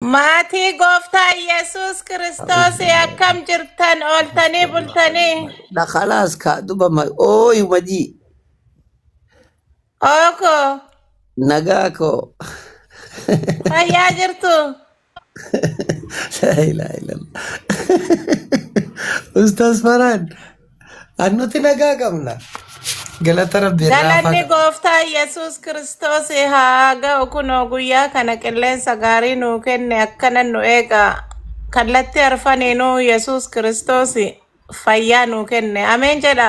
Maatii gooftaa Yesuus Kiristoos akkam jirtan ooltanii bultanii? Na khalaas ka duba ma ooyu majii Ooko nagaa koo. fayyaa jirtu? Laa ilaaha illallah. Ustaz Farhan An nuti nagaa qabna. Galata rabbi irraa Galanni faga. gooftaa Yesuus Kiristoos haa ga'u kunoo guyyaa kana qilleensa gaarii nuu kenne akkana nu eega. Kallattii arfaniinuu Yesuus Kiristoos fayyaa nuu kenne. Ameen jedha.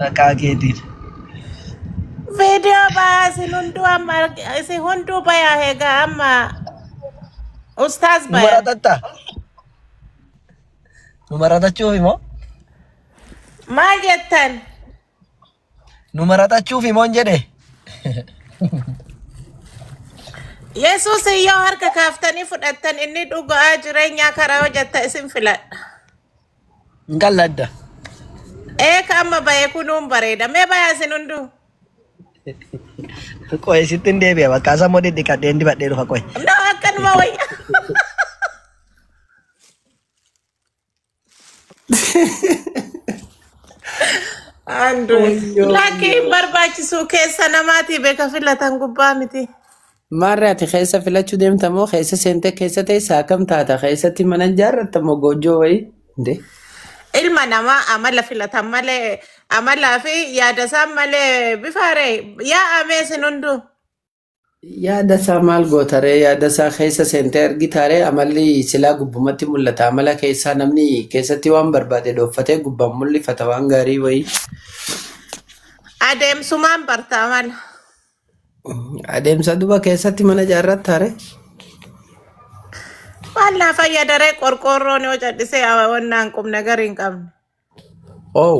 Maqaa keetiin. Viidiyoo bayaa isin hunduu amma arg- isin hunduu bayaa egaa amma ustaaz Nu bayan. maratatta. Nu maratachuuf immoo. Maal jettan? Nu maratachuuf immoo hin jedhe. Yesuus yoo harka kaaftanii fudhattan inni dhugaa jireenyaa karaa hojjetta isin filadha. Hin qalladda. Eeka amma ba'e kunuun bareeda. Mee ba'aa isin hunduu. Qo'e sitti hin deebi'a bakka asa immoo dhidhiqadhee hin dibadhee dhufa qo'e. No akkanuma wayya. Andrew. Wayyoo Lakkii hin wayyoo. barbaachisuu keessa namaatii beeka filatan gubbaa miti. Maarree ati keessa filachuu deemta moo keessa seentee keessa teessa akkam taata keessatti mana hin jaarratta moo goojjoo wayii? Dee. Ilma namaa amala filatan malee amalaa fi yaada isaan malee bifaaree yaa amee sin hunduu. Yaada isaa maal gootaree yaada isaa keessa seentee argitaaree amalli silaa gubbumatti mul'ata amala keessaa namni keessatti waan barbaade dhooffatee gubbaan mul'ifata waan gaarii wayii. Adeemsumaan barta amala. Adeemsa duba keessatti mana ijaarratta hare. Maal naa fayyadaree qorqoorroon yoo cadhisee awawannaan qubna gari hin qabne. Oow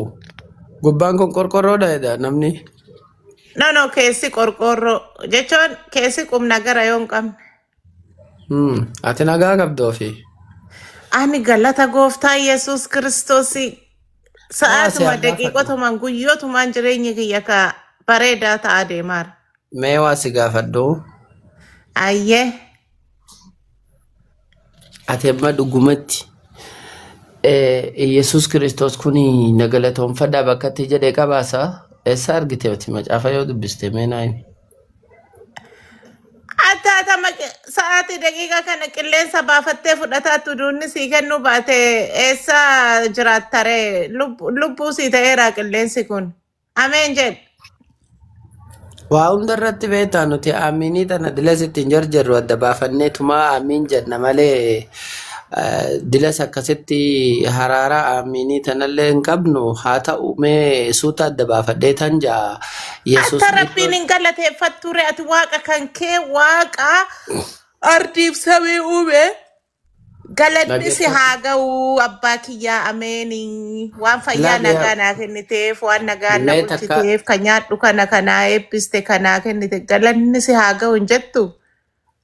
gubbaan kun qorqorroodha jedha namni. No no keessi qorqoorroo jechuun keessi qubna gara yoo hin qabne. Hmm, Ati nagaa qabda ofii. Ani galata gooftaa Yesuus Kiristoosii Haa si sa'aatuma argaafadhu. daqiiqotumaan guyyootumaan jireenyi kiyya ka bareedaa ta'aa deemaara. Mee waa si gaafadhu. Ayyee Ati amma dhugumatti eh, Yesuus Kiristoos kun na galatoomfadhaa bakka itti jedhe qabaasa. Eessa argite ati macaafa yoo dubbiste mee naa himi. Attaatama qi- sa'aatii daqiiqaa kana qilleensa baafattee fudhataa tuduunni sii kennuu baate eessa jiraattare Lub- lubbuu sii ta'eera qilleensi kun. Ameen jedhe. Waa hunda irratti beektaa nuti aamiinii tana dilas ittiin jarjarru adda baafannee tumaa aamiin jenna malee Dilas akkasitti haraaraa aamiinii tanallee hin qabnu haa ta'u mee suuta adda baafadhee tan ja'a Yesuus Akka Rabbiin Kiristoos hin galateeffatture ati waaqa kan kee waaqa ardiif samii uume galanni si dhaggeeffadhu. haa ga'u abbaa kiyyaa ameeni waan fayyaa Laal yaa nagaa naa kenniteef waan nagaa na mee takka bulchiteef kan nyaadhu kana kanaa eebbiste kanaa kennite galanni si haa ga'u hin jettu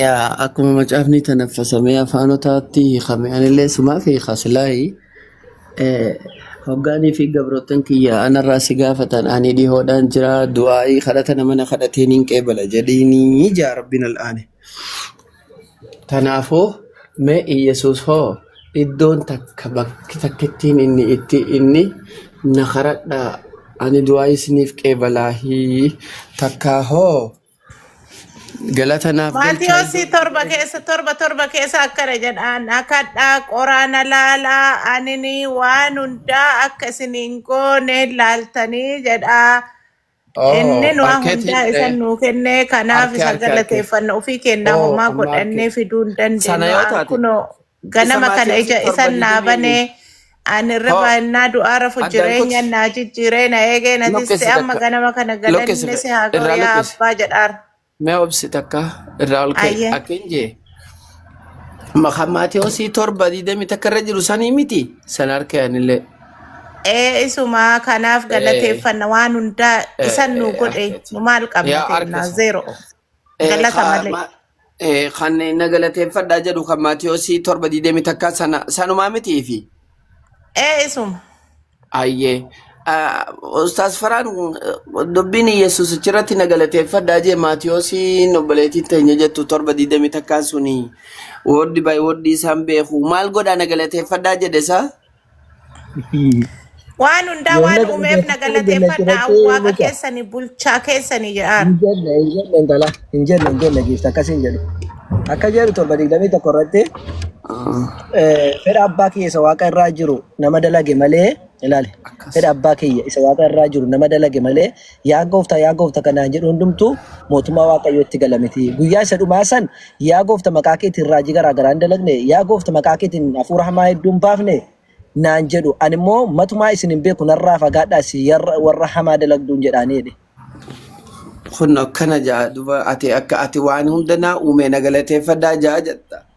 Yaa akkuma macaafni tanaffasamee afaanotaatti hiikame anillee sumaaf hiika silaayi eh, hoggaanii fi gabroottan kiyya anarraa si gaafatan ani dhihoodhaan jira du'aa'ii kadhata nama na kadhateen hin qeebala jedhiinii jaa rabbiin al'aane. Kanaafuu mee Iyyasuus hoo iddoon takka bakki takkittiin inni itti inni na kadhadhaa ani du'aa'ii isiniif qeebalaahii takkaa hoo Galata naaf galchaa Maatiyoosi iddoo tokko torba keessa keessatti. torba torba keessa akkana jedhaan akadhaa qoraana laalaa anini waan hundaa akka isin hin goone laaltanii jedhaa inni Oh, nuwa hundaa marketing isan re. nuu kennee kanaaf Arke isa arke arke. galateeffanna ofii kennaa Oh, homaa amma arke. godhannee fiduu hin Sana dandeenyu yoo taate kunoo Ganama Isamaa kana keessi ija isan torba naa didimii banee miiti. ani irra Hoo baannaa du'aa rafu addaan jireenya kuti. naa jijjiiree na eegee na tiste Luqqisi amma takka. ganama kana Luqqisi galanni si haa ga'u irraa yaa luqqisi. abbaa jedhaar. Mee obsi takka irraa ol ka'i. Ayyee. Akkin jee. Maqaan Maatiyoosii torba didimii takka irra jiru sanii miti. San harka yaanillee. Ee isuma kanaaf Eh, galateeffanna waan hundaa isan nuu eh, godhe akkati. nu maal qabna Yaa harka kennaa isa. zeero. Eh, Galata ka- malee. ma- eh, Kan na galateeffadhaa jedhu kan Maatiyoosii torba digdamii takkaa sana sanumaa mitii fi Ee isuma. ayyee. Ah, Ustaas Faraan eh, dubbiin Yesuus achirratti na galateeffadhaa jee Maatiyoosiin obboleettiin teenya jettu torba digdamii takkaa suni wooddi baay'ee wooddi isaan beeku maal godhaa na galateeffadhaa jedhe isaa? Waan hundaa Yoona waan kana uumeef na keessatti galateeffadha. gallateeffadha Waaqa mucaa. keessani bulchaa keessani jedhaan. Hin jenne hin jenne intala hin jenne hin jenne giifti akkas hin jedhu. Akka jedhu torba digdamii tokko irratti eh, fedha abbaa kiyya isa waaqa irraa jiru nama dalage malee ilaali. Fedha abbaa kiyya isa waaqa irraa jiru nama dalage malee Yaa gooftaa, yaa goofta kan naan jedhu hundumtuu mootummaa Waaqayyootti gala miti. Guyyaa isa dhumaa san yaa goofta maqaa keetiin raajii garaa garaa hin dalagne, yaa goofta maqaa keetiin hafuura hamaa hedduu hin baafne naan jedhu. Ani immoo matumaa isin hin beeku narraa fagaadhaa isin yarra- warra hamaa dalagduun jedhaanii jedhe. Kun akkana ja'a duba ati akka ati waan hunda naa uumee na galateeffadhaa ja'a jetta.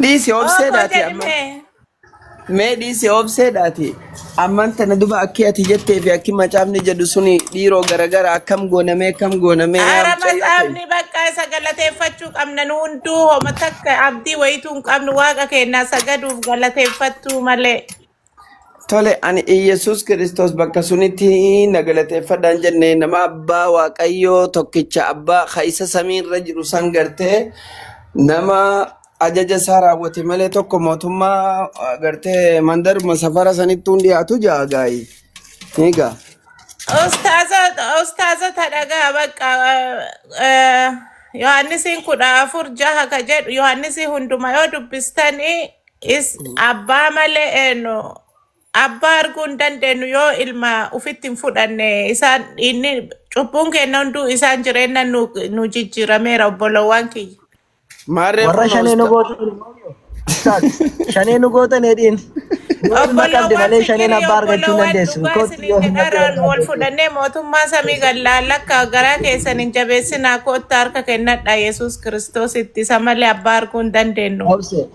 Dhiisi Ookoo obseedhaati amma. jedhimee. Mee dhiisi obseedhaati. Amman tana duba akki ati jettee fi akki macaafni jedhu suni dhiiroo garagara akkam goonamee akkam goonamee yaa Ara mucayyoo ta'e. macaafni bakka isa galateeffachuu qabna nu hunduu homa takka abdii wayituu hin qabnu waaqa keenyaa sagaduuf galateeffachuu malee. Tole ani Iyyasuus Kiristoos bakka sunitti na galateeffadhaan jenne nama abbaa Waaqayyoo tokkicha abbaa ka isa samii irra jiru san gartee nama ajaja isaa raawwate malee tokko mootummaa ah, gartee mandaruma safara sanittuu hin dhiyaatu ja'a gaayi. Ni gaa. Ustaaza ustaaza ta dhagaa bakka Yohaannisiin kudha afur jaha ka jedhu Yohaannisii hunduma yoo dubbistanii Is abbaa malee eenyu abbaa arguu hin dandeenyu yoo ilma ufitti hin fudhanne isaan inni cubbuun keenya hunduu isaan jireenya nu nu jijjiirameera obbolowwan kiyya. Maarree Warra kunoo shanee nu usta. gootan immoo ustaaz shanee nu gootan hedhiin yoo ilma qabde Obbolowwan malee shaneen fikirii abbaa argachuu hin obbolowwan dandeessu. dhugaa Kootti isiniin yoo hin jedha dhabde irraa wal fudhannee mootummaa samii gallaan akka garaa keessan hin jabeessinaa kottaa harka kennadha Yesuus Kiristoositti isa malee abbaa arguu hin dandeenyu. Obse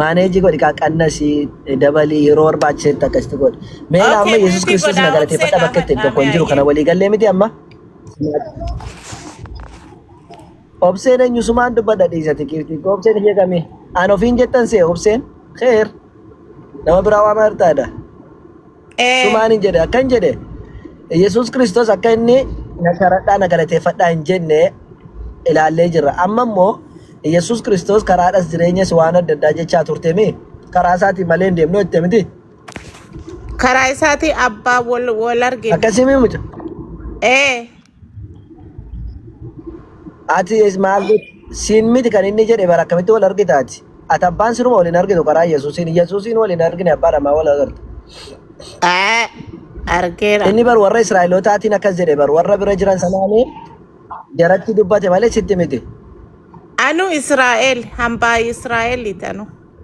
Maaneejii godhi kaa qannasi dabalii yeroo barbaachisetti akkasitti godhi. Mee laa amma Okay, Yesuus maaltii Kiristoos na godhaa obsee galateeffadha bakka ittiin gaafadhaa tokko mee hin jiru kana ayyee. walii gallee miti amma. Obseen eenyusumaan dubbadha dhiisati kiirtii koo obseen ishee kamii? Aan ofiin jettan see obseen keer nama biraa waamaa jirtaadha. Ee. Sumaan hin jedhe akkan jedhe Yesuus Kiristoos akka inni na sharadhaa na galateeffadhaa hin jenne ilaallee jirra. Amma immoo Yesuus Kiristoos karaadhas jireenyas waan adda addaa jechaa turtemi karaa isaatiin malee hin deemnu jette miti. Karaa isaatii abbaa wal wal argina. Akkasii mii muca? Ee. Ati is maal godhu? Siin miti kan inni jedhe bara akkamitti wal argita ati? Ati abbaan siruma wal hin argitu karaa Yesuusiin. Yesuusiin wal hin argine abbaa dhamaa wal agarta. Aa, argeera. Inni bar warra Israa'elootaatiin akkas jedhe bar warra bira jiran sanaanii jaratti dubbate malee sitti miti. Anu Israa'el, hambaa Israa'eliiti anu.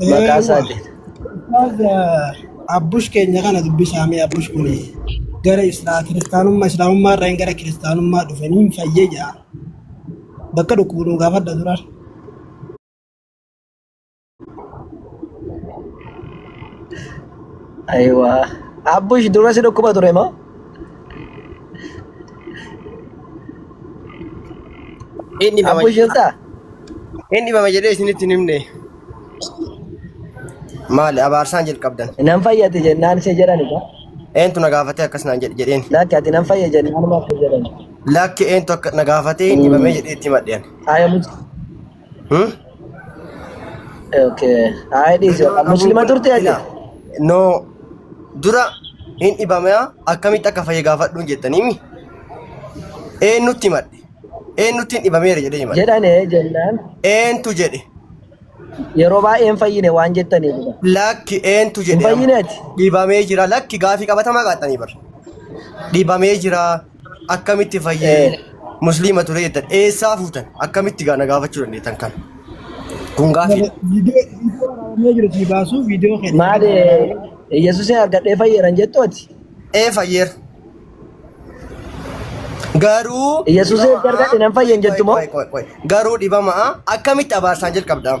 Maqaa Eeywa. isaatiin. Ustaaz eh, Abbush keenya kana dubbisaa mee Abbush kun gara Islaa kiristaanummaa Islaamummaa irraa gara kiristaanummaa dhufe niin fayyee jira. Bakka dhukkubu nu gaafadha dura. Ayiwaa. Abbush dura si dhukkuba ture moo? Hin dhibama Abbo jedhee jirtaa? hin dhibama jedhee isinitti hin himne. Maali abaarsaan jalqabdan. Nan fayyate jennaan si jedhani kaa. Eentu na gaafatee akkas naan jedhe jedheen. Lakki ati nan fayya jennaan maaf si jedhani. Lakki eentu akka na gaafatee hin dhibamee jedhee itti madheen. Aya mucaa. Hmm? Okay. Haa dhiisi. Yeroo dhabuu Muslima turte ati? ila no dura hin dhibamea akkamitti akka fayye gaafadhuun jettanii mi eenyutti himadhe eenyutti hin dhibameera jedhee himadhe Jedhan ee jennaan eentu jedhe yeroo baay'ee hin fayyine waan jettaniif. lakki eentu Hin jedhe amma fayyine ati? dhibamee jira lakki gaafii qabatamaa qaatanii bar dhibamee jira akkamitti fayyee Eh, musliima ture jettan eessaa fuutan akkamitti gaana gaafachuu dandeettan kan kun gaafiidha. Viidiyoo viidiyoo waraabamee jiru sii baasuu viidiyoo keenya maal irratti waraabamee Yesuusin argadhee fayyeeran jettooti? Ee fayyeera. Garuu Yesuusin erga argadhe nan fayyen jettu moo? Garuu dhibama akkamitti abaarsaan jalqabdaam?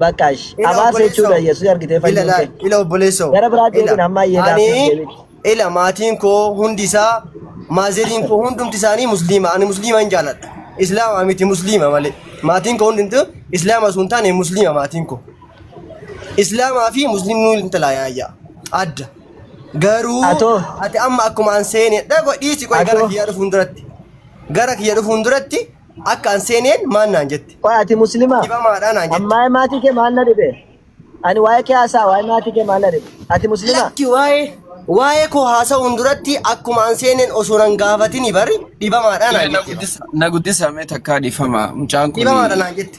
Bakka ish. Ila Abaarsa obboleessoo. jechuudha Yesuus argitee Ila fayyuun laal. kee. Ila obboleessoo. Gara biraa Ila. deebina amma eegaa Ani akkasitti deebiin. ila maatiin koo hundi isaa maaziriin koo hundumti isaanii musliima. Ani musliima hin jaaladha. Islaama miti musliima malee. Maatiin koo hundumti islaama osoo hin taane musliima maatiin koo. Islaamaa fi musliimni hin talaayyaa. Adda. Garuu Atoo. ati amma akkuma an seenedha godhiisi qoy gara Atoo. kiyya dhufuun duratti. Gara kiyya dhufuun duratti Akka an seeneen maal naan jette? Qoy ati muslimaa? Dhibamaadhaa naan jette. Ammaa maatii kee maal na dhibe? Ani waa'ee kee haasaa waa'ee maatii kee maal na dhibe? Ati muslimaa? Lakki waa'ee waa'ee koo haasa'uun duratti akkuma an seeneen osoo nan gaafatini bari dhibamaadhaa naan Mee na jette. guddisa- na guddisa mee takkaa dhiifama mucaan kun Dhibamaadha naan jette.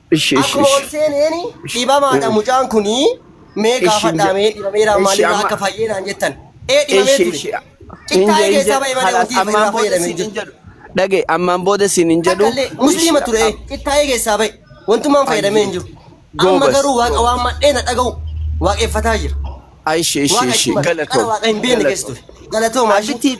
Ishi ishi Akkuma ol ishi. seeneen dhibamaadha mucaan kun mee Ishi gaafadhaa inja. mee dhibameera Ishi maalirraa amma. akka fayyeenaan jettan. Ee dhibamee Ishi ture. ishi. Cittaayee Inja keessaa inja. bahee malee Halas wanti ammaan irraa booda fayyadame siin hin hin jiru. jedhu. Dhage ammaan booda siin hin jedhu. Takkallee musliima Ishi, ture am- cittaayee keessaa bahe wantummaan fayyadamee hin jiru. Amma Goobas, garuu waaqa goobas. waan madhee na dhaga'u waaqeffataa jira. Ishi ishi Waaqa ishi. itti mara. Qara Galatoom. waaqa hin beekne keessa Galatoom. ture. Galatoomaa ishii. Abbitti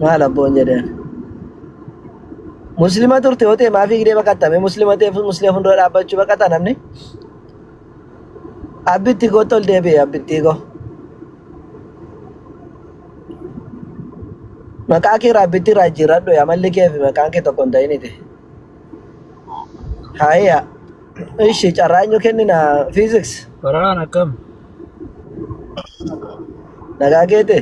maal abboon jedheen muslima turte yoo ta'e maafii gidee baqattame muslima ta'e muslima fuuldura dhaabbachuu baqata namni abbitti koo tol deebi'e abbitti koo maqaa kee raabbitti irraa jijjiirradhu amalli kee fi maqaan kee tokko hin ta'initi haaya ishi carraanyu kennina fiiziks Baraan akkam? Nagaa keete?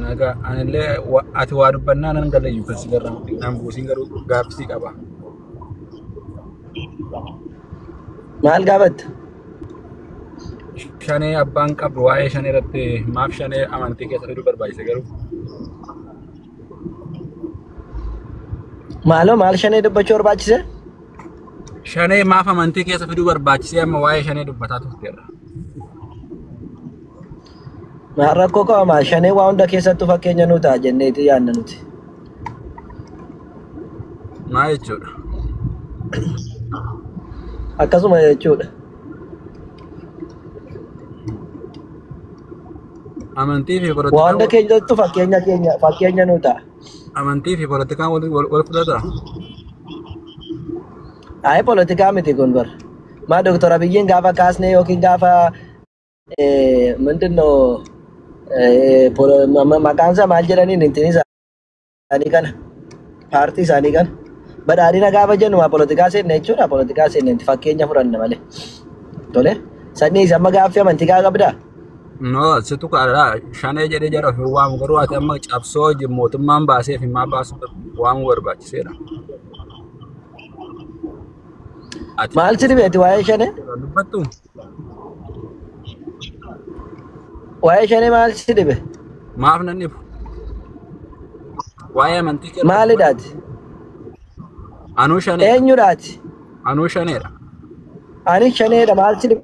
Nagaa anillee wa- ati waa dubbannaa nan galayyu kan si garramu dhignaan buusiin garuu gaaffii qaba. Maal gaafatta? Shanee abbaan qabdu waa'ee shanee irratti maaf shanee amantii keessa fiduu barbaachise garuu Maaloo maal shanee dubbachuu barbaachise? Shanee maaf amantii keessa fiduu barbaachisee amma waa'ee shanee dubbataa turteerra. Ma- Rakkoo qabamaa shanee waa hunda keessattuu fakkeenya nu ta'a jenneeti yaadna nuti. Maa jechuudha. Akkasuma jechuudha. Amantii fi Waa hunda polotikaa keessattuu fakkeenya keenya fakkeenya nu ta'a. Amantii fi politikaan wal wal fudhata. Ayi politikaa miti kun bar. Maa Dr. Abiyyiin gaafa kaasnee yookiin gaafa eh, ምንድን ነው eh, polo- ma- ma- maqaan isaa maal jedhaniin ittiin isaanii kana paartii isaanii kana badhaadhina gaafa jennu maa politikaa seenne jechuudha politikaa seenne itti fakkeenya fudhanna malee tole sanyii isa amma gaaffii amantii gaa qabdaa No, situ kaadha. Shanee jedhee jara ofii waamu garuu ati amma cabsoo wajjin mootummaan baasee fi maa baasuu waamuu barbaachiseedha. Ati Maal si dhibeeti waa'ee shanee? kan dubbattu Waa'ee shanee maal si dhibe? maaf nan dhibu. Waa'ee amantii kee irraa dubbadhu. Maalidhaati? Anuu shaneedha. Eenyudhaati? Anuu shaneedha. Ani shaneedha maal si dhibe?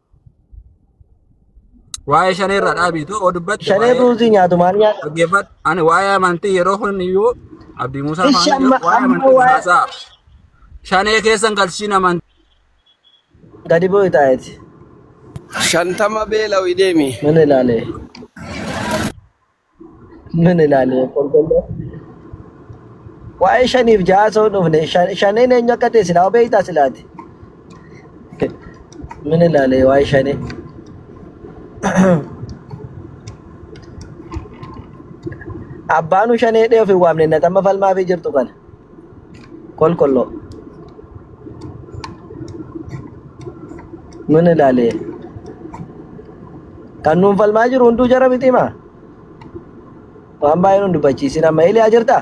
Waa'ee shanee irraa dhaabiitu oo dubbatte Shanee waa'ee ruuzii nyaatu maal nyaata? dhaggeeffadhu. Ani waa'ee amantii yeroo kun iyyuu Abdii Muusaa Ishi faana amma waa'ee amma amantii waa'ee haasaa. Shanee keessan galchiin amantii. gadi bu'i taa'eeti. Shantama beela'u deemi. Mana ilaalee. Nun ilaalee kolkolloo. Waa'ee shaniif ja'a osoo hin dhufne shan- shaneen eenyu akka ta'e silaa beektaa silaati. Nun ilaalee waa'ee shanee. Abbaanuu shanee dhee ofiin waamne natamma falmaafii jirtu kana. kolkollo nun ilaale kan nuun falmaa jiru hunduu jara miti maa waan baay'ee nun dubbachiisin amma eliyaa jirta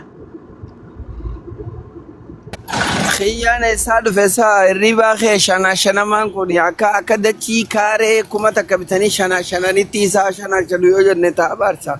Kiyyaan eessaa dhufe isaa hirribaa kee shanaa shanamaan kun akka akka dachii kaaree kuma takka bitanii shanaa shananitti isaa shanaa shanu yoo jenne taa abaarsa.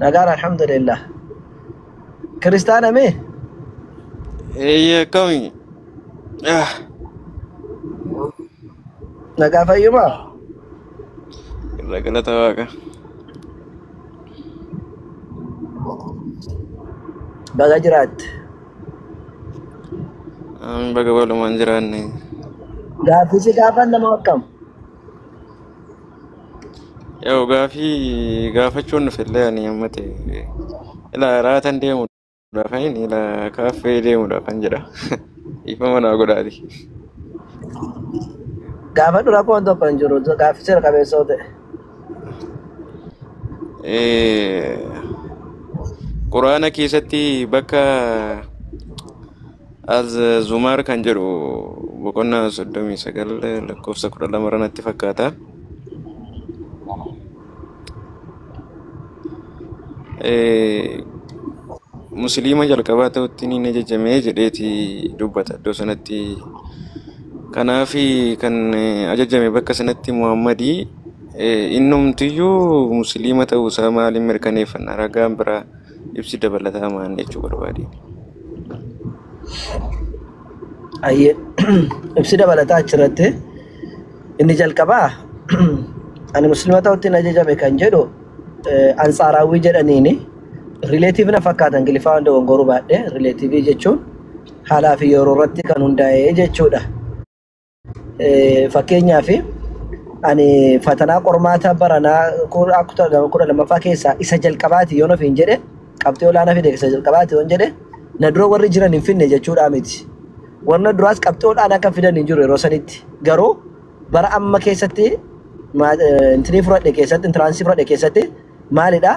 Nagaan alhamdulillah. Kiristaana mee? Eeyyee akkami? Ah, Nagaa fayyumaa? Irra galata waaqa. Baga jiraatte. Amin baga walumaan jiraanne. Gaaffii si gaafan nama akkam? Yoo gaafii gaafachuun dhufe illee ani amma ta'e ila raatan deemuudhaaf hin ila kaaffee deemuudhaaf kan jedha. Dhiifama naa godhaati. Gaafadhu rakkoon tokko hin jiru. Gaaffii seera qabeessa yoo ta'e. Eh, Quraana keessatti bakka As Zumar kan jedhu boqonnaa 39 lakkoofsa 12 irra natti fakkaata. Eh, Musliima jalqabaa ta'utti ni ajajamee jedheeti dubbata iddoo sanatti. Kanaaf kan eh, ajajame bakka sanatti Muhammadii eh, innumtiyyuu Musliima ta'uusaa maaliin mirkaneeffanna ragaan biraa Ibsi dabalataa maal jechuu barbaade? Ayyee ibsi dabalataa achirratti inni jalqabaa ani muslima ta'utti na jajame kan jedhu eh, ansaaraawwii jedhaniini rileetiivii na fakkaata ingiliffaa hunda wangoruu baadhee rileetiivii jechuun haalaa fi yeroo irratti kan hundaa'e jechuudha. Fakkeenyaaf ani fatanaa qormaata baranaa kudha lammaffaa keessaa isa jalqabaati yoon ofiin jedhe qabxii olaanaa fide isa jalqabaati yoon jedhe na dura warri jiran hin finne jechuudhaa miti. Warra duraas qabxii olaanaa kan fidan hin jiru yeroo sanitti garuu bara amma keessatti intinii fudhadhe keessatti intiraansii fudhadhe keessatti maalidhaa?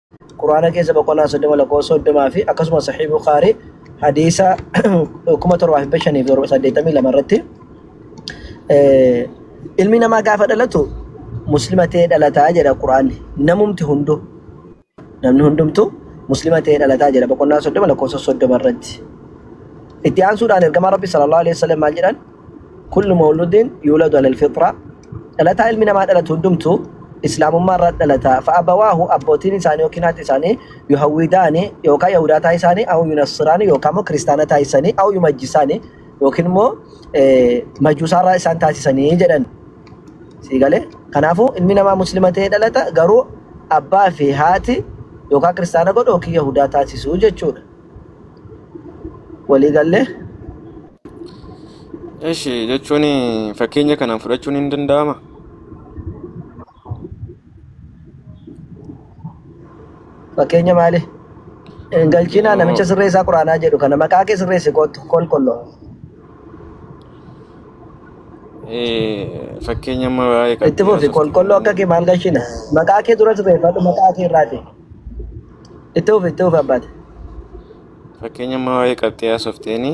Qur'aana keessa boqonnaa 30 lakkoofsa 30 fi akkasumas Sahih Bukhari hadiisa 7582 irratti eh, ilmi namaa gaafa dhalatu muslima ta'ee dhalataa jedha Qur'aanni namumti hunduu namni hundumtu muslima ta'ee dhalataa jedha boqonnaa 30 lakkoofsa 30 irratti itti aansuudhaan ergamaa Rabbi sallallahu alaihi wasallam maal jedhan kullu mawludin yuladu alal fitra dhalataa ilmi namaa dhalatu hundumtu islaamummaa irra dhalata fa'abawaahu abbootiin isaanii yookiin haati isaanii yuhawwidaani yookaan yahudaa taasisaanii au yunassiraani yookaan immoo kiristaana taasisanii au yumajjisaani yookiin immoo majuusaarraa isaan taasisanii jedhan sii galee kanaafuu ilmi namaa muslima ta'ee dhalata garuu abbaa fi haati yookaan kiristaana godhu yookiin yahudaa taasisuu jechuudha. Walii gallee? Eshi jechuun fakkeenya kanaan fudhachuun hin danda'ama. Fakkeenya maali? Hin galchiinaa Yoo namicha sirreessaa quraanaa jedhu kana maqaa kee sirreessi kootu kolkolloo. eh, fakkeenya amma waa'ee Itti fufi qalbiirraa kolkolloo akka kee maal galchiina? Maqaa kee dura sirreeffadhu maqaa kee irraati. Itti fufi itti fufi abbaate. Fakkeenya amma waa'ee qabxii haasofteeni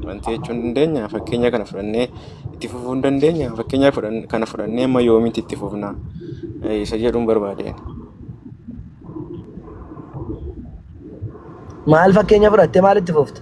wanti jechuu hin dandeenya. Fakkeenya kana fudhannee itti fufuu hin dandeenya. Fakkeenya fudhan- kana fudhannee amma yoomiitti itti fufna Eh, isa jedhuun barbaadeen. Maal fakkeenya fudhattee maal itti fufta?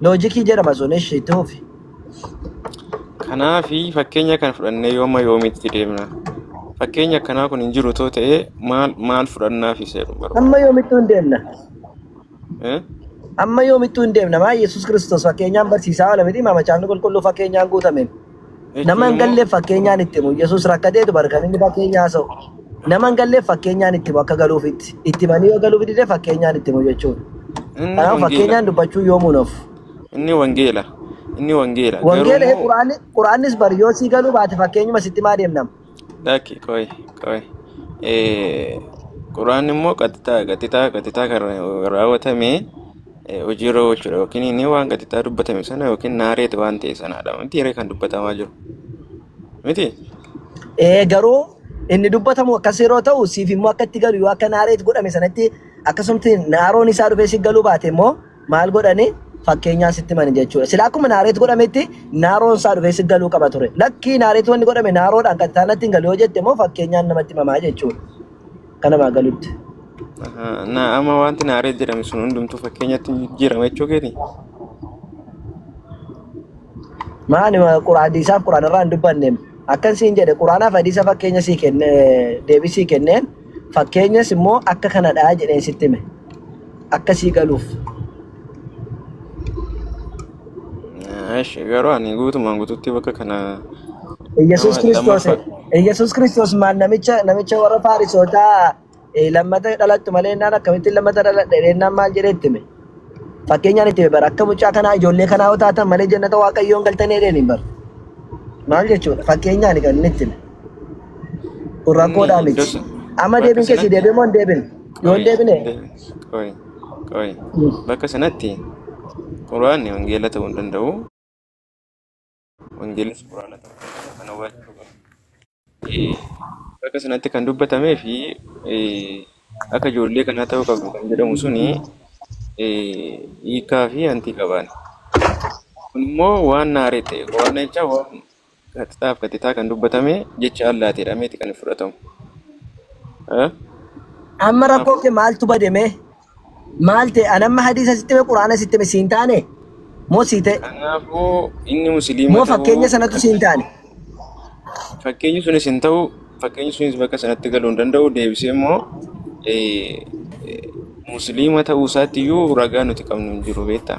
Loojikii jedhama sun ishi itti fufi. Kanaafi fakkeenya kana fudhannee yooma yoomitti deemna. Fakkeenya akkanaa kun hin jiru too ta'ee maal maal fudhannaaf isa jedhu barbaada. Amma yoomittuu hin deemna. Eh? Amma yoomittuu hin deemna. Maa Yesuus Kiristoos fakkeenyaan barsiisaa oola miti. Maa macaafni qulqulluu fakkeenyaan guutameen. Nama hin galleef fakkeenyaan itti himu. Yesuus rakkatee dubar kan inni fakkeenya haasa'u. Nama hin galleef fakkeenyaan itti himu akka galuuf itti itti himanii yoo galuuf dide fakkeenyaan itti himu jechuudha. Inni Kanaaf wangeela. fakkeenyaan dubbachuu yoomuu hin hafu. Inni wangeela. Inni wangeela. Wangeela Garuu quraanni quraannis bari yoo sii galuu baate fakkeenyuma sitti maa deemnama. Lakki qoy qoy. Eh, Quraan immoo qaxxitaa qaxxitaa qaxxitaa kan raawwatame eh, hojiirra oolchuudha yookiin inni waan qaxxitaa dubbatame sana yookiin naareeti waan ta'e sanaadha. Miti hiree kan dubbatamaa jiru. Miti? Ee garuu inni dubbatamu akkas yeroo ta'u siif immoo akka itti galu yoo akka naareet godhame sanatti akkasumti naaroon isaa dhufee si galuu baate immoo maal godhani fakkeenyaa sitti himani jechuudha. Sila akkuma naareet godhametti naaroon isaa dhufee si galuu qaba ture. Lakkii naareet wanni godhame naaroodhaan kan isaanatti hin galu yoo jette immoo fakkeenyaan namatti himamaa jechuudha. Kan namaa galutti. Ahaa, Na amma wanti naaree jedhame sun hundumtuu fakkeenyatti hin jijjiirama jechuu keeti. Maani quraan hadiisaaf quraan irraa hin dubbanneem. Akkan siin jedhe quraanaaf hadiisa fakkeenya sii kenne deebii sii kenneen fakkeenyas immoo akka kanadhaa jedheen sitti hime. akkasii galuuf Eesh, garuu ani guutumaan guututti bakka kana Yesuus nama Kiristoos lammaffaa Yesuus Kiristoos maal namicha namicha warra Faarisootaa eh, lammata dhalattu malee innaan akkamittiin lammata dhaladhe innaan maal jedhee itti hime fakkeenyaan itti hime bara akka mucaa kanaa ijoollee kanaa yoo taatan malee jannata waaqayyoon galtanii jedheen hin bara maal jechuudha fakkeenyaan kan inni itti hime Kun rakkoodhaa Inni miti. dos Amma bakka deebiin keessi sanatti deebiin moo hin deebin? Yoo hin qoy deebine de- qoy qoy bakka sanatti quraanni wangeela ta'uu hin danda'u. Wangeelis quraana ta'uu hin danda'u. Kana hubachuu qabna. Eh, Bakka sanatti kan dubbatamee fi eh, akka ijoollee kanaa ta'uu qabdu kan jedhamu suni eh, hiikaa fi hantii qabaani. Kun immoo waan naarii ta'e waan jecha waan Qaxxaa fi qaxxitaa kan dubbatame jecha Allaati jedhameeti kan hin fudhatamu. Eh? Amma rakkoon Kanaafuu kee maaltu bade mee? Maal ta'e? An amma hadiisa sitti hime, Qur'aana sitti hime siin taane? Moo sii ta'e? kanaafuu inni musliima Moo ta'uu fakkeenya sanatu kan siin taane? fakkeenyi sunis hin ta'u fakkeenyi sunis bakka sanatti galuu hin danda'u deebisee immoo eh, eh, musliima ta'uu isaatti iyyuu ragaa nuti qabnu hin jiru beektaa.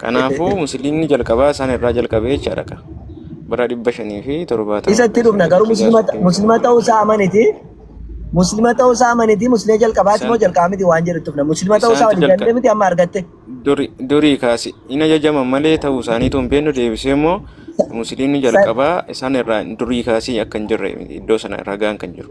Kanaafuu musliimni jalqabaa isaan irraa jalqabe jechaadha ka. Bara dhibba shanii fi torbaatama Isatti keessa dhufna garuu hijraa muslima soddomii muslima torba ta'uu isaa amaniti. Muslima ta'uu isaa amaniti. Muslima jalqabaati moo isaantu jalqabaa miti waan jedhu tufna. Muslima ta'uu isaa isaantu waliif jalqabe. galte miti amma argatte. Duri, durii kaasi hin ajajaman malee ta'uu isaaniitu hin beeknu deebisee immoo musliimni Sa- jalqabaa isaan irraa durii kaasii akka hin jirre iddoo sana ragaan kan jiru.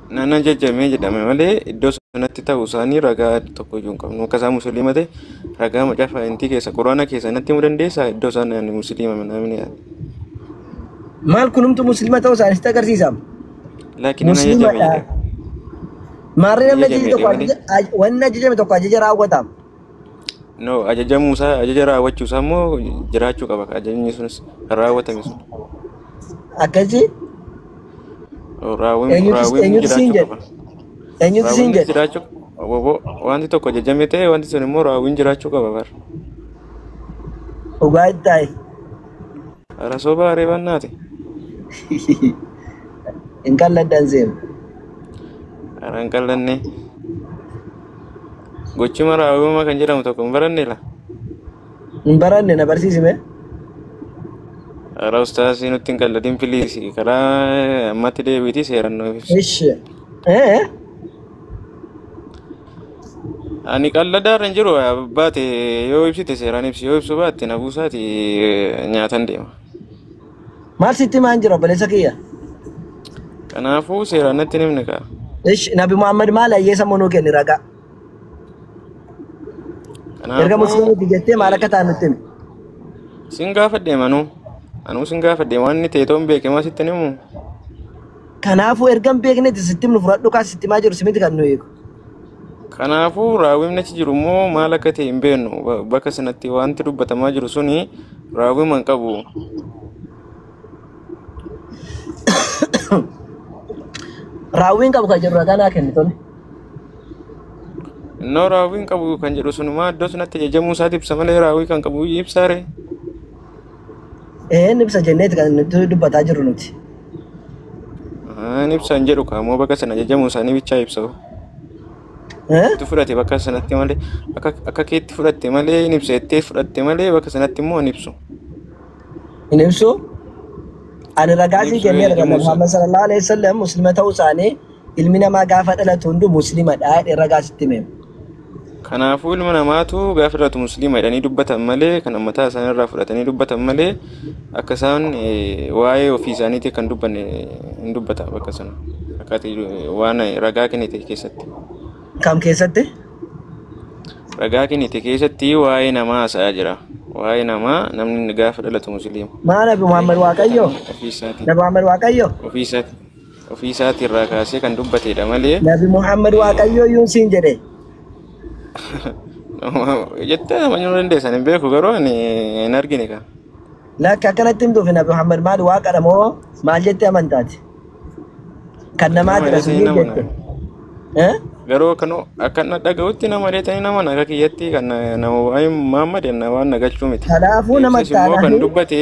nan ajajame jedhame malee iddoo sanatti ta'uu isaanii ragaa tokko iyyuu hin qabnu. Akka isaan musliima ta'e ragaa macaafa intii keessa quraana keessa natti himuu dandeessaa iddoo isaan ani musliima namni Maal kunumtu musliima ta'uu isaanii sitti agarsiisaam. laakiin nan ajajame Musliimadha. jedhame. Maarree Nan namni ajajame ajajame jedhe tokko malee. ajaja- wanni ajajame tokko ajaja raawwataam. No, ajajamuu isaa, ajaja raawwachuu isaa immoo jiraachuu qaba. Ajajni sunis kan raawwatame sun. Akkasii Raawwiin eenyutu raawwiin eenyutu siin jiraachuu jedhe? qaba. Eenyutu siin Raawwiinis jedhe? jiraachuu qaba. Wanti tokko ajajame ta'e wanti sun immoo raawwiin jiraachuu qaba bar. Dhugaa itti taa'i. Hara soba areebannaati. Hin qalladdan seenu. Hara hin qallanne. Gochima raawwima kan jedhamu tokko hin baranne la. Hin baranne na barsiisime. Karaa ustaasii nutti hin qalladin piliisi. Karaa ammatti deebiitii seeran nuuf ibsi. Ishi. Ee? Ani qalladaa irra hin jiru baate yoo ibsite seeraan ibsi yoo ibsu baatte na buusaati nyaatan deema. Maal sitti himaa hin jiru obboleessa kiyya? Kanaafuu seeraan natti hin himne kaa. Ish Nabi Muhammad maal ayyeessa monuu kenni ragaa. Erga Kanaafuu musliimiti jettee maal akka ta'an nutti himi. sin gaafadhe manuu. Anuu sin gaafadhe waan inni ta'e toon beeke maa sitti hin himu. Kanaafuu erga hin beeknetti sitti himnu fudhadhu kaa sitti himaa jiru simiti kan nu eegu. Kanaafuu raawwimni achi jiru immoo maal akka ta'e hin beeknu. Ba- Bakka sanatti wanti dubbatamaa jiru suni raawwima hin qabu. Raawwiin qabu kan jedhu ragaa naa kenni tole. Innoo raawwii hin qabu kan jedhu sunumaa iddoo sanatti ajajamuu isaati ibsa malee raawwii kan qabu ibsaare. Een ibsa jenneeti kan nuti dubbataa jirru nuti. Aan ibsaan jedhu kaamoo bakka sana ajajamuu isaanii bichaa ibsa. Eh? Itti fudhate bakka sanatti malee akka akka keetti fudhatte malee hin ibsa jettee fudhatte malee bakka sanatti immoo hin ibsu. Hin ibsu. Ani ragaa Hin sii ibsu, kenneera kan ajajamuu isaa. Muhammad sallallahu alaihi wasallam muslima ta'uu isaanii ilmi namaa gaafa dhalatu hunduu muslimadha jedhee ragaa sitti hime. Kanaafuu ilma namaatu gaafa dhalatu musliima jedhanii dubbatan malee kan ammataa isaanii irraa fudhatanii dubbatan malee akka isaan eh, waa'ee ofii isaaniitii kan dubbanne hin dubbata bakka sana akkaatii eh, waan ragaa kennite keessatti. Kam keessatti? Ragaa kennite keessatti waa'ee namaa haasa'aa jira. Waa'ee namaa namni gaafa dhalatu musliima. Maa nabi Muhammad Waaqayyo? Ofii isaatii. Nabi Muhammad Waaqayyo? Ofii isaatii. ofii isaatii irraa kaasee kan dubbateedha malee Nabi Muhammad eh, Waaqayyoo yuun siin jedhe. jettee nama nyuu dandeessan hin beeku garuu ani hin argine kan. Lakki akkanatti hin dhufe Nabi Muhammad maal waaqadha moo maal jette amantaati? Kan Kan nama namaatidha sun dheesanii yuun nama jette. na Eh? garuu kan akka na dhaga'utti nama dheesanii nama na akka kiyyatti kan na- nama waa'ee Muhammad na waan na gachuu miti. Kanaafuu nama Ibsis immoo kan taanaan dubbate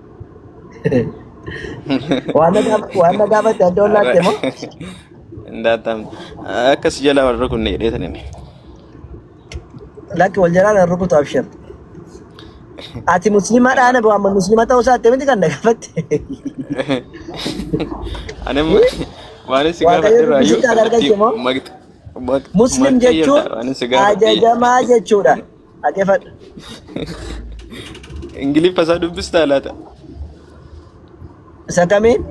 Waan na gaaf- waan na gaafate adda ol laatte moo? Daataan akka si jalaa wal rukunne jedhee sanin. Lakki wal jalaa na rukutu abshir. Ati musliimaa dhaana boo amma musliima ta'uu isaa akkamitti kan na gaafatte? Ani amma waan si Waaqayyo gaafadhe irraa iyyuu dubbisitti kan argatte moo? Muslim jechuun ajajamaa jechuudha. Dhagefadha. Ingiliffa isaa dubbistaa laata? Isa kamiin?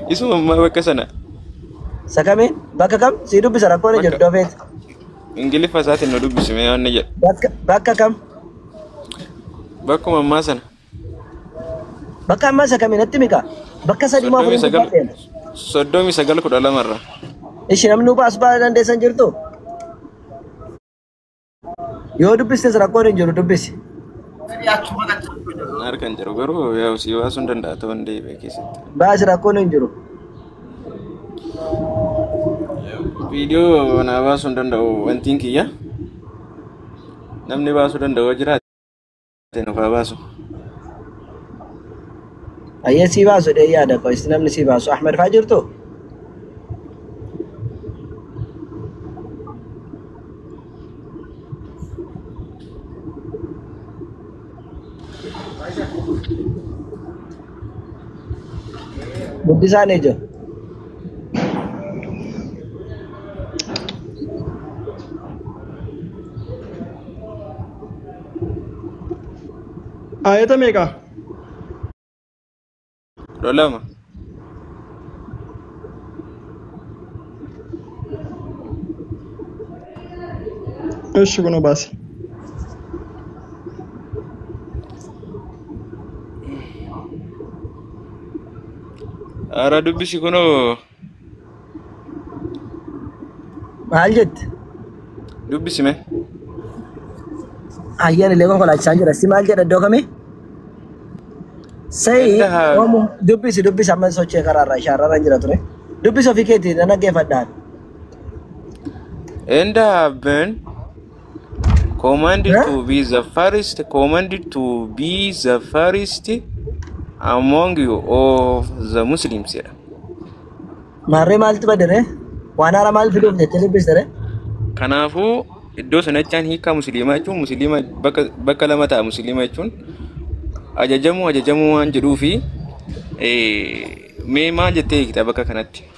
Isuma ammaa bakka sana. Isa kamiin? Bakka kam? Sii dubbisa rakkoon hin jirtu dofeeti. Ingiliffa isaatiin nu dubbisime waan ni jedha. Bakka bakka kam? Bakkuma ammaa sana. Bakka ammaa isa kami natti mika? Bakka sadii moo soddomii afuriin sagal dubbadheen? soddomii sagal kudha lama irra Ishi namni hubaa as baala dandeessan jirtu? Yoo dubbistes rakkoon hin jiru dubbisi. na harka hin jiru garuu yaa sii baasuu hin danda'a ta'uu hin deebi'e keessatti Baasi rakkoon hin jiru. viidiyoo naa baasuu hin danda'u wantiin kiyya namni baasuu danda'u jira Ati nuuf haa baasu. Ayyee sii baasu dhee yaada koo isin namni sii baasu Ahmed faa jirtu? Guddisaan ijoo. Aayata meeqa? kudha lama Eshi kunoo baase. haaraa dubbisi kunoo Maal jette? Dubbisi mee. Ayyaan illee konkolaachisaa jira. Si maal jedha iddoo kamii? Sayi Ganda haa- oomu dubbisi dubbisi amma sochee karaarraa shaararra jira ture. Dubbisi ofii keetii nan dhaggeeffadhaan. Enda haben Commanded Eh? to be the first, commanded to be the first among you of the Muslims. jedha. Maarree maaltu badere? Waan haaraa maal fiduuf jettee dubbistere? Kanaafuu iddoo sanachaan hiikaa musliimaa jechuun musliima bakka, bakka lama ta'a musliima jechuun ajajamuu ajajamuu waan jedhuu fi eh, mee maal jettee hiikta bakka kanatti?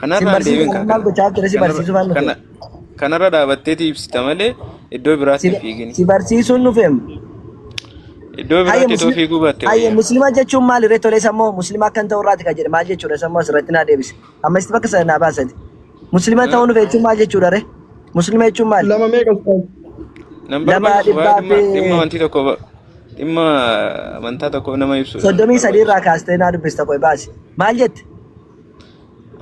Kanarra hin barsiisu deemin kan maal gochaa turte si barsiisu faan dhufe. Kanarra dhaabatteeti ibsita malee iddoo biraatti hin fiigin. Si barsiisuun dhufeem. Iddoo biraatti itoo fiiguu baatte Hayya wayya. muslima jechuun maali ree tolee sammoo muslima akkan ta'u irraati kan jedhe maal jechuudha sammoo asirratti naa deebise. Amma isti bakka sana naa baasati. Muslima ta'uu dhufe jechuun maal jechuudha ree? Muslima jechuun maali? Lama meeqa ustaaz? Nan Lama barbaachisu waa'ee dhibbaa dhimma fi- dhimma wanti tokko ba- dhimma amantaa tokko nama ibsu. Soddomii sadii irraa kaastee naa dubbista qoy baasi. Maal jette?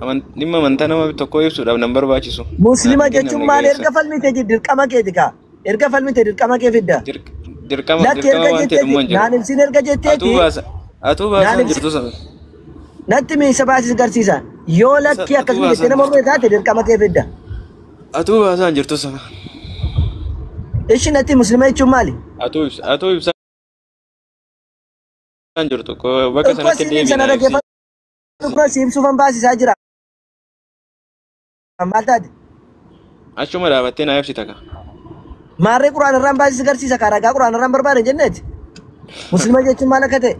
Aman- Dhimma amantaa nama tokkoo ibsuudhaaf nan barbaachisu. Naaf Muslima hin jechuun kennamne maal ga'eessa. erga falmite je- dirqama keeti kaa. Erga falmite dirqama kee fidda. Dirq- Dirqama Lakki dirqama erga waan ta'e jetteeti. dhumma hin Naan jiru. ibsin erga Atuu jetteeti. baasa. Atuu Naan baasaan ibsi. jirtu sana. Natti miisa baasisa garsiisa. Yoo Sa- lakki Atuu akkasuma jettee baasaan nama mormee jirtu. taate dirqama kee fidda. Atuu baasaan jirtu sana. Ishi natti muslima jechuun maali? Atuu ibsa. Atuu ibsaan jirtu. Ko- Bakka Tokko sanatti asiin deebiin sana ibsi. dhaggeeffadhu. Dhuguma siif sufan baasisaa jira. Maal taate? Achuma dhaabattee naa ibsita ka. Maarree quraan irraan baasisi garsiisa kaa ragaa quraan irraan barbaade jenneeti. Muslima jechuun maal akka ta'e?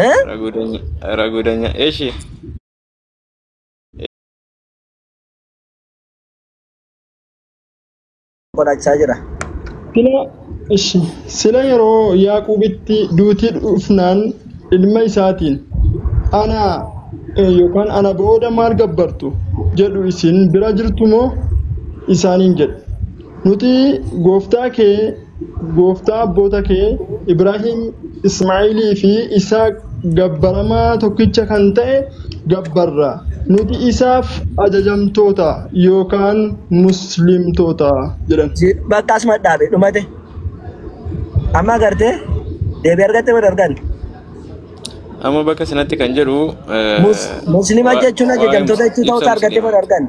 Eh? Ragudanya. Ragudanya. Eshi. godhachaa jira. Sila ishi sila yeroo Yaaquubitti duuti dhufnaan ilma isaatiin ana eh, yookaan ana booda maal gabbartu jedhu isin bira jirtu moo isaaniin jedhe. Nuti gooftaa kee gooftaa abboota kee Ibraahim, Ismaa'ilii fi Isaaq gabbaramaa tokkicha kan ta'e gabbarra. Nuti isaaf ajajamtoota yookaan Muslimtoota jedhan. Si bakka asuma dhaabe dhumate. Amma agartee deebii argatte moo hin arganne? Amma bakka sanatti kan jedhu eh, Mus- Muslima waa- jechuun waa'ee ajajamtoota jechuu ta'uu isaa ibsa argatte moo hin kenna. arganne?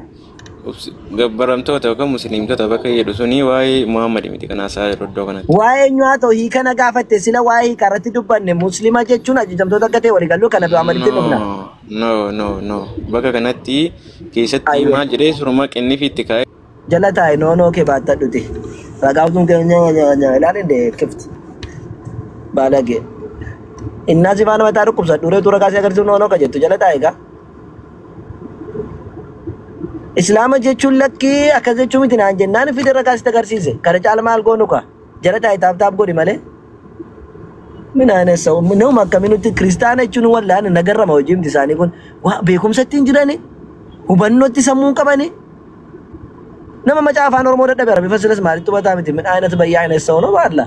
Obsi- Gabbaramtoota yookaan musliimtota bakka jedhu suni waa'ee Muhammad miti kan haasa'aa jiru iddoo kanatti. Waa'ee eenyu haa ta'u hiika na gaafatte sila waa'ee hiika irratti dubbanne muslima jechuun ajajamtoota akka ta'e walii galuu kana biraa malitti dhufna. No, no, no, no. Bakka kanatti keessatti Ayyee maal jedhee suruma qinnifiitti kaa'ee jala taa'e noonoo kee baatta dhute. Ragaaftuun kee nyaa nyaa nyaa ilaalin dee kifti baalagee. Innaa sifaan mataa dhukkubsa dhureetu ragaa si agarsiisu noonoo ka jettu jala taa'e gaa. Islaama jechuun lakkii akkas jechuu miti naan jennaan fide ragaa sitti agarsiise. Kana caala maal goonu kaa? Jara taa'e taaf taaf godhi malee. Min aynas sa'u nama akkamii nuti kiristaana jechuun wallaana nagarrama hojii miti isaanii kun. Waa beekumsa ittiin jirani hubannootti sammuun qabani. Nama macaa afaan Oromoo dadhabe rabbi fasilas maalitti hubataa miti min aynas bayyaa aynas sa'u nama Allah.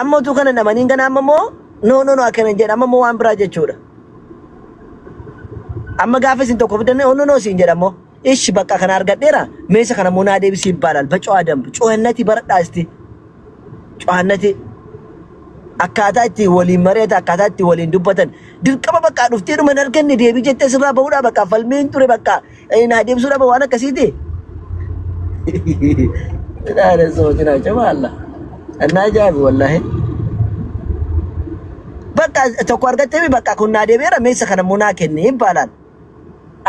Amma utuu kana namanii hin gana amma immoo no no no akkana hin jedha amma immoo waan biraa jechuudha. Amma gaafa isin tokko fiddan no no no siin jedha immoo ishi bakka kana argadheera meesha kana immoo naa deebisii ibbaalal bacoo adambu cuhannati baradhaa isti cuhannati akkaataa itti waliin mari'ata akkaataa itti waliin dubbatan dirqama bakka dhuftee dhuma hin arganne deebii jettee sirraa bahudhaa bakka falmiin ture bakka Ee, naa deebisuu dhaba waan akkasiiti. Ilaala sooti naa jama Allah. Annaa jaabi wallahi. Bakka tokko argattee bakka kun naa deebi'eera meessa kana immoo naa kenne hin baalaan.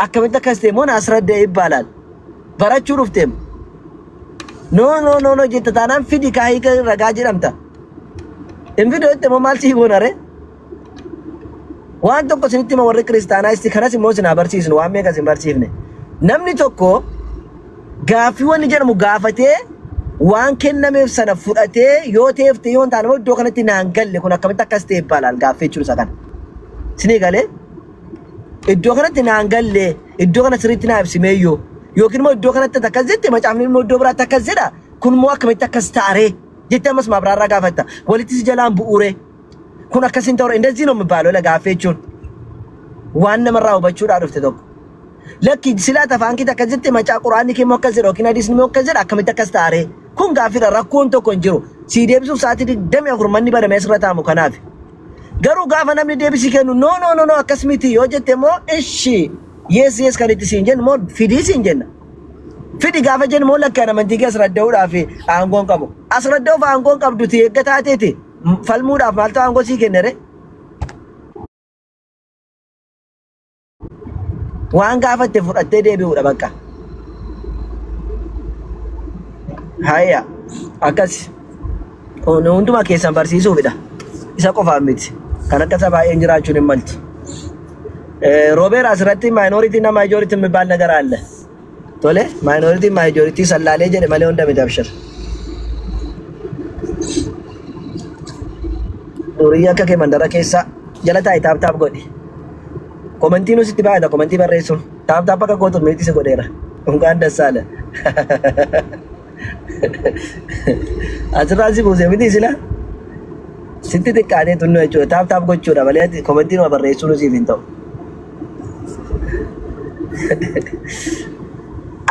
Akkamitti akkas ta'e immoo naas raddee hin baalaan. Barachuu dhufteem. No no no no jetta taanaan fidi kaahii ragaa jedhamta. Hin fidoo itti immoo maal sii goonaree? Waan tokko isinitti hima warri kiristaanaa isti kanas immoo isin haa barsiisnu waan meeqa isin barsiifne. Namni tokko gaaffii wanni jedhamu gaafatee waan kennameef sana fudhatee yoo ta'eef ta'e yoo hin taane immoo iddoo kanatti naan galle kun akkamitti akkas ta'e baalaal gaaffii jechuun isa kana. Isinii galee? Iddoo kanatti naan galle iddoo kana sirriitti naa ibsimee yoo yookiin immoo iddoo kanatti akkas jette macaafni immoo iddoo biraatti akkas jedha kun immoo akkamitti akkas taaree jettee ammas maabiraarraa gaafatta walitti si jalaan bu'uuree. Kun akkas hin ta'u indazii no mibaaloo la gaaffii jechuun waan namarraa hubachuudhaa dhufte tokko. Lakki silaa tafaan kee takka jirti macaa quraanni kee immoo akkas jedha yookiin hadiisni immoo akkas jedha akkamitti akkas taaree. Kun gaaffiidha rakkoon tokko hin jiru. Sii deebisuuf sa'aatii digdamii afur manni banamee asirra taa'amu kanaafi. Garuu gaafa namni deebisii kennu no no no no akkas miti yoo jette immoo ishi yes yes kan itti siin jennu immoo fidii siin jenna. Fidi gaafa jennu immoo lakkaan amantii kee asirra da'uudhaaf aangoon qabu. Asirra da'uuf aangoon qabduti eeggataa teeti. falmuudhaaf maaltu aangoo sii kenne ree? Waan gaafatte fudhattee deebi'uudha bakka. Hayya akkas Kun hundumaa keessan barsiisuufidha. Isa qofaan miti. Kan akka isa baay'een jiraachuun hin maltu. Eh, Robeer asirratti maayinooritii nama ijooritti mibaal nagar aalla. Tole minority majority sallaalee jedhe malee hunda miti abshir. Durii akka kee mandara keessa jala taa'i taap taap godhi. Komentii nusitti baay'ata komentii barreessuun taap taap akka gootu miitii si godheera. Unkaan dassaale. Asirraa si buuse miti sila. Sitti xiqqaatee tunnu jechuudha taap taap gochuudha malee komentii nama barreessuun siif hin ta'u.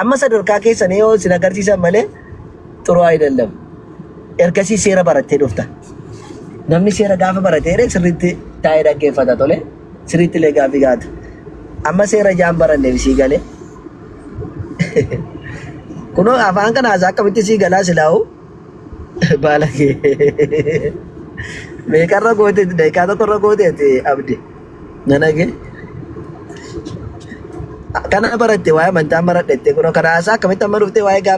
Amma sadarkaa keessanii yoo isin agarsiisan malee xuruu ayidallam. Ergasii seera barattee dhufta. Namni seera gaafa baratee sirriitti taa'ee dhaggeeffata tole. Sirriitti illee gaaffii gaafata. Amma seera jaan baranneef sii galee. Kunoo afaan kana haasaa akkamitti sii galaa silaa'u baalagee. Meeqarra goote daqiiqaa tokkorra goote ati abdi. Na dhage. Kana baratte waa'ee amantaa maradhette kunoo kana haasaa akkamitti amma dhuftee waa'ee gaafa